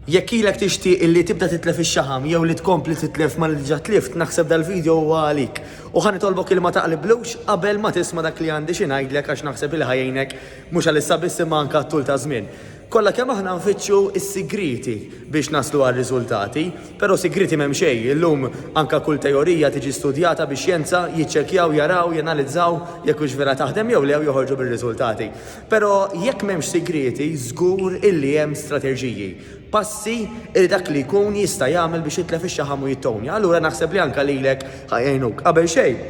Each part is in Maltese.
Jekk ilek tixtieq illi tibda titlef ix-xaħam jew li tkompli titlef ma li diġà tlift, naħseb dal-video huwa għalik. U ħa nitolbok illi ma taqliblux qabel ma tisma' dak li għandi xi ngħidlek għax naħseb illi ħa jgħinek mhux għal issa biss imma anke għat-tul taż-żmien. Kollha kemm aħna nfittxu s-sigrieti biex naslu għar-riżultati, però sigrieti m'hemm xejn, illum anke kull teorija tiġi studjata bix-xjenza, jiċċekkjaw, jaraw, janalizzaw jekk hux vera taħdem jew le u joħorġu bir-riżultati. Pero jekk m'hemmx sigrieti żgur illi hemm strateġiji, passi illi dak li jkun jista' jagħmel biex jitlef ix-xaħam u jittownja. Allura naħseb li anke lilek ħa jgħinuk. Qabel xejn,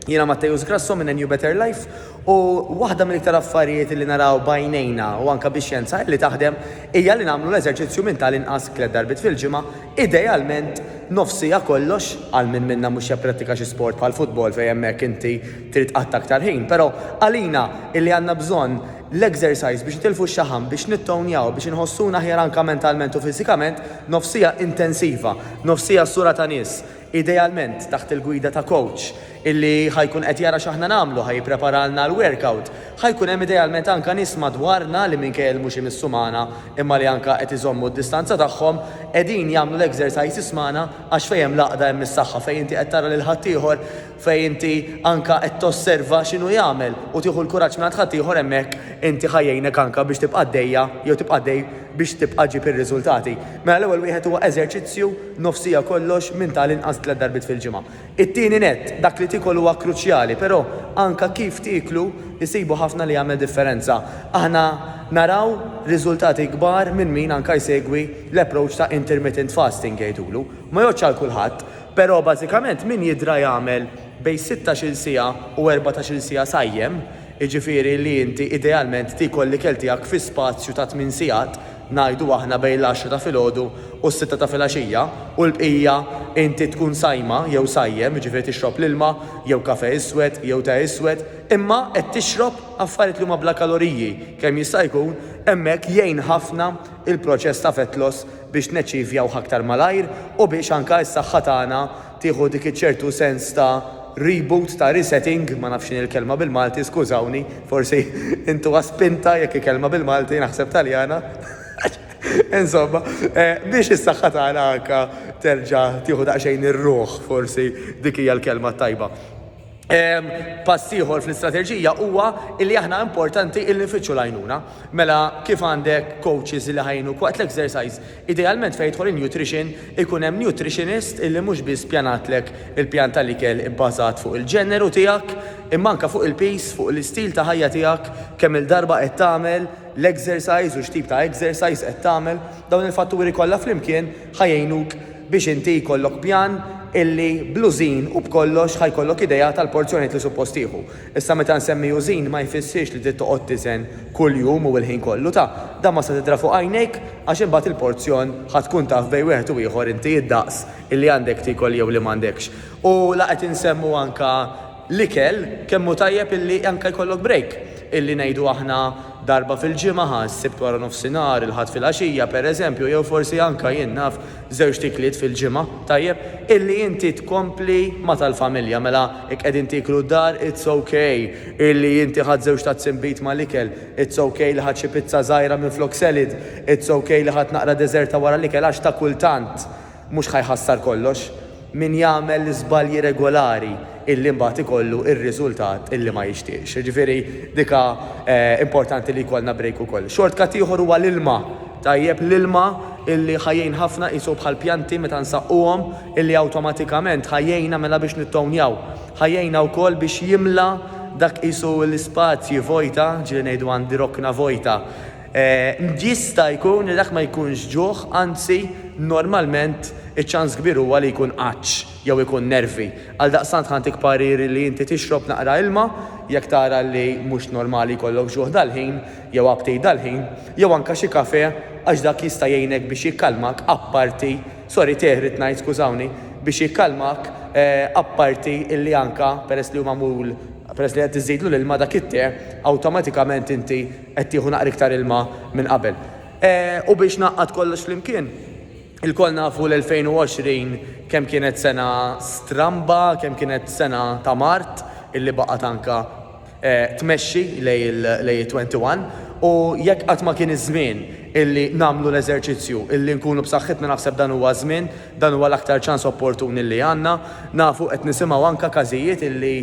jiena Matteus Grasso minn A New Better Life u waħda mill-iktar affarijiet illi naraw b'għajnejna u anke bix-xjenza illi taħdem hija li nagħmlu l-eżerċizzju minn tal-inqas tliet darbiet fil-ġimgħa Idealment nofs siegħa kollox għal min minna mhux japprattika xi sport bħal futbol fejn hemmhekk inti trid qatt aktar ħin, però għalina illi għandna bżonn l-exercise biex nitilfu x-xaħam, biex nittownjaw, biex inħossuna aħjar anke mentalment u fiżikament, nofs siegħa intensiva, nofs siegħa sura ta' nies, idealment taħt il-gwida ta' kowċ illi ħa jkun qed jara x'aħna nagħmlu, ħa jippreparalna l-werkawt, ħa jkun hemm idealment anke nies madwarna li minkejja li mhux imissu magħna imma li anke qed iżommu d-distanza tagħhom, qegħdin jagħmlu l-exercises magħna għax fejn hemm l-għaqda hemm is-saħħa, fejn inti qed tara lil ħaddieħor, fejn inti anke qed tosserva x'inhu jagħmel u tieħu l-kuraġġ mingħand ħaddieħor hemmhekk inti ħa jgħinek anke biex tibqa' għaddejja jew tibqa' għaddej biex tibqa' ġġib ir-riżultati. Mela l-ewwel wieħed huwa eżerċizzju nofs siegħa kollox minn ta' l-inqas tliet darbiet fil-ġimgħa. It-tieni nett, dak li tiekol huwa kruċjali, però anke kif tieklu jsibu ħafna li jagħmel differenza. Aħna naraw riżultati kbar minn min anke jsegwi l-approach ta' intermittent fasting jgħidulu. Ma jgħoddx għal kulħadd. Però bażikament min jidra jagħmel bejn sittax-il siegħa u erbatax-il siegħa sajjem, jiġifieri li inti idealment tiekol l-ikel tiegħek fi spazju ta' tmien sigħat, ngħidu aħna bejn l-għaxra ta' filgħodu u s-sitta ta' filgħaxija, u l-bqija inti tkun sajma jew sajjem, jiġifieri tixrob l-ilma jew kafè iswed jew te iswed, imma qed tixrob affarijiet li huma bla kaloriji kemm jista' jkun, hemmhekk jgħin ħafna il-proċess ta' fett loss biex naċċivjawh aktar malajr u biex anke s-saħħa tagħna tieħu dik iċ-ċertu sens ta' reboot, ta' resetting, ma nafx x'inhi l-kelma bil-Malti, skużawni, forsi intuha spinta jekk hi kelma bil-Malti, naħseb Taljana, insomma, biex is-saħħa tagħna anke terġa' tieħu daqsxejn ir-ruħ, forsi dik hija l-kelma t-tajba. Pass ieħor fl-istrateġija huwa li aħna importanti il nifittxu l-għajnuna. Mela kif għandek coaches li ħajnu waqt l-exercise, idealment fejn jidħol in-nutrition ikun hemm nutritionist illi mhux biss pjanatlek il-pjan tal-ikel ibbażat fuq il-ġeneru tiegħek, imma anke fuq il-piż, fuq l-istil ta' ħajja tiegħek, kemm-il darba qed tagħmel l-exercise u x'tip ta' exercise qed tagħmel, dawn il-fatturi kollha flimkien ħa jgħinuk biex inti jkollok pjan illi bl-użin u b'kollox ħa jkollok idea tal-porzjonijiet li suppost tieħu. Issa meta nsemmi użin ma jfissirx li trid toqgħod tiżen kull jum u l-ħin kollu ta' dan ma se tidra fuq għajnejk għax imbagħad il-porzjon ħa tkun taf bejn wieħed u ieħor inti id-daqs illi għandek tiekol jew li m'għandekx. U la qed insemmu anka l-ikel kemm hu tajjeb illi anke jkollok break, illi ngħidu aħna darba fil-ġimgħa, s-Sibt wara nofsinhar, il-Ħadd filgħaxija, pereżempju, jew forsi anke, jien naf, żewġt ikliet fil-ġimgħa, tajjeb, illi inti tkompli ma' tal-familja. Mela, jekk qegħdin tieklu d-dar, it's ok illi inti ħadt żewġ tazzi inbid mal-ikel, it's ok li ħadt xi pizza żgħira minflok salad, it's ok li ħadt naqra deżerta wara l-ikel għax ta' kultant, Mhux ħa jħassar kollox min jagħmel l-iżbalji regolari illi mbagħad ikollu ir-riżultat illi ma jixtieqx. Jiġifieri dika importanti li jkollna break ukoll. Shortcut ieħor huwa l-ilma. Tajjeb l-ilma illi ħa jgħin ħafna qisu bħal pjanti meta nsaqquhom illi awtomatikament ħa jgħinna mela biex nittownjaw. Ħa jgħinna wkoll biex jimla dak qisu l-ispazji vojta, ġieli ngħidu għandi rokna vojta, Jista' jkun li dak ma jkunx ġuħ, anzi, normalment iċ-ċans kbir huwa li jkun għatx jew ikun nervi. Għaldaqstant ħantik parir li inti tixrob naqra ilma jekk tara li mhux normali jkollok ġuħ dal-ħin jew aptit dal-ħin, jew anke xi kafè għax dak jista' jgħinek biex jikkalmak apparti, sorry tè rrid ngħid skużawni, biex jikkalmak apparti illi anke peress li hu magħmul, peress li qed iżidlu l-ilma dak it-tè awtomatikament inti Qed tieħu naqra iktar ilma minn qabel. U biex ngħaqqad kollox flimkien, ilkoll nafu l-2020 kemm kienet sena stramba, kemm kienet sena ta' mard illi baqgħet anke tmexxi lejn it-21 u jekk qatt ma kien iż-żmien illi nagħmlu l-eżerċizzju illi nkunu b'saħħitna naħseb dan huwa ż-żmien, dan huwa l-aktar ċans opportun illi għandna. Nafu qed nisimgħu anke każijiet illi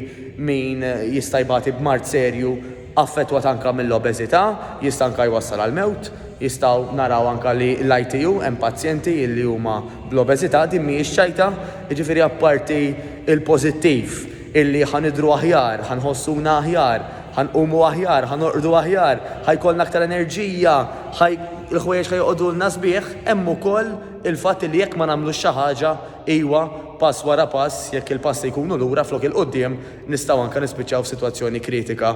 min jista' jbati b'mard serju, affettwat anke mill-obeżità, jista' anke jwassal għall-mewt. Jistgħu naraw anke li l-ITU hemm pazjenti li huma bl-obeżità, din mhijiex ċajta, jiġifieri apparti l-pożittiv illi ħa nidhru aħjar, ħa nħossuna aħjar, ħa nqumu aħjar, ħa norqdu aħjar, ħa jkollna aktar enerġija, ħa l-ħwejjeġ ħa joqogħdulna sbieħ, hemm ukoll il-fatt illi jekk ma nagħmlux xi ħaġa, iwa, pass wara pass, jekk il-passi jkunu lura flok il-quddiem, nistgħu anke nispiċċaw f'sitwazzjoni kritika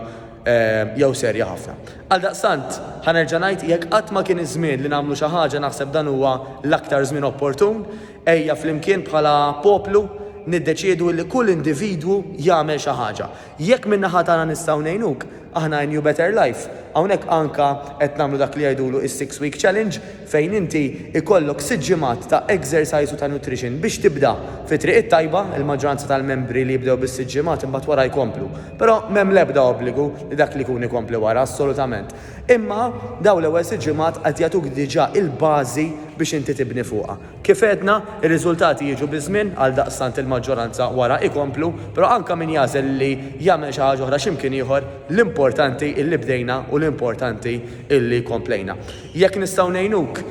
jew serja ħafna. Għaldaqstant, ħa nerġa' ngħid, jekk qatt ma kien iż-żmien li nagħmlu xi ħaġa naħseb dan huwa l-aktar żmien opportun. Ejja flimkien bħala poplu niddeċiedu li kull individwu jagħmel xi ħaġa. Jekk min-naħa tagħna nistgħu ngħinuk, Aħna in New Better Life hawnhekk anka qed nagħmlu dak li jgħidulu is-six week challenge fejn inti jkollok sitt ġimgħat ta' exercise u ta' nutrition biex tibda fi triq it-tajba, il-maġġoranza tal-membri li jibdew bis-sitt ġimgħat imbagħad wara jkomplu. Però m'hemm l-ebda obbligu li dak li jkun ikompli wara, assolutament. Imma dawn l-ewwel sitt ġimgħat qed jagħtuk diġà il-bażi biex inti tibni fuqha. Kif għedna, ir-riżultati jiġu biż-żmien, għaldaqstant il-maġġoranza wara ikomplu, però anke min jagħżel li jagħmel xi ħaġa oħra x'imkien ieħor, l-importanti illi bdejna u l-importanti illi komplejna. Jekk nistgħu ngħinuk,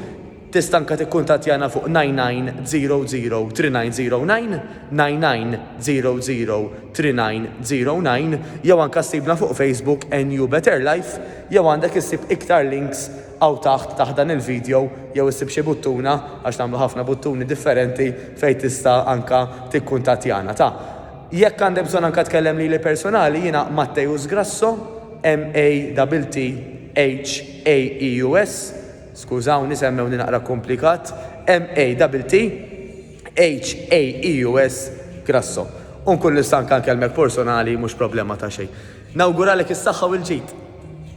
tista' anke tikkuntattjana fuq 99003909, 99003909 jew anke ssibna fuq Facebook NU Better Life jew għandek issib iktar links Hawn taħt, taħt dan il-video, jew issib xi buttuna, għax nagħmlu ħafna buttuni differenti, fejn tista' anka tikkuntattjana. Ta. Jekk għandek bżonn anka tkellem lili personali, jiena Matteus Grasso, M-A-T-T-H-A-E-U-S, skużawni semmewni naqra kumplikat, M-A-T-T-H-A-E-U-S, Grasso. U nkun nista' anka nkellmek porsonali, mhux problema ta' xejn. Nawguralek is-saħħa u l-ġid!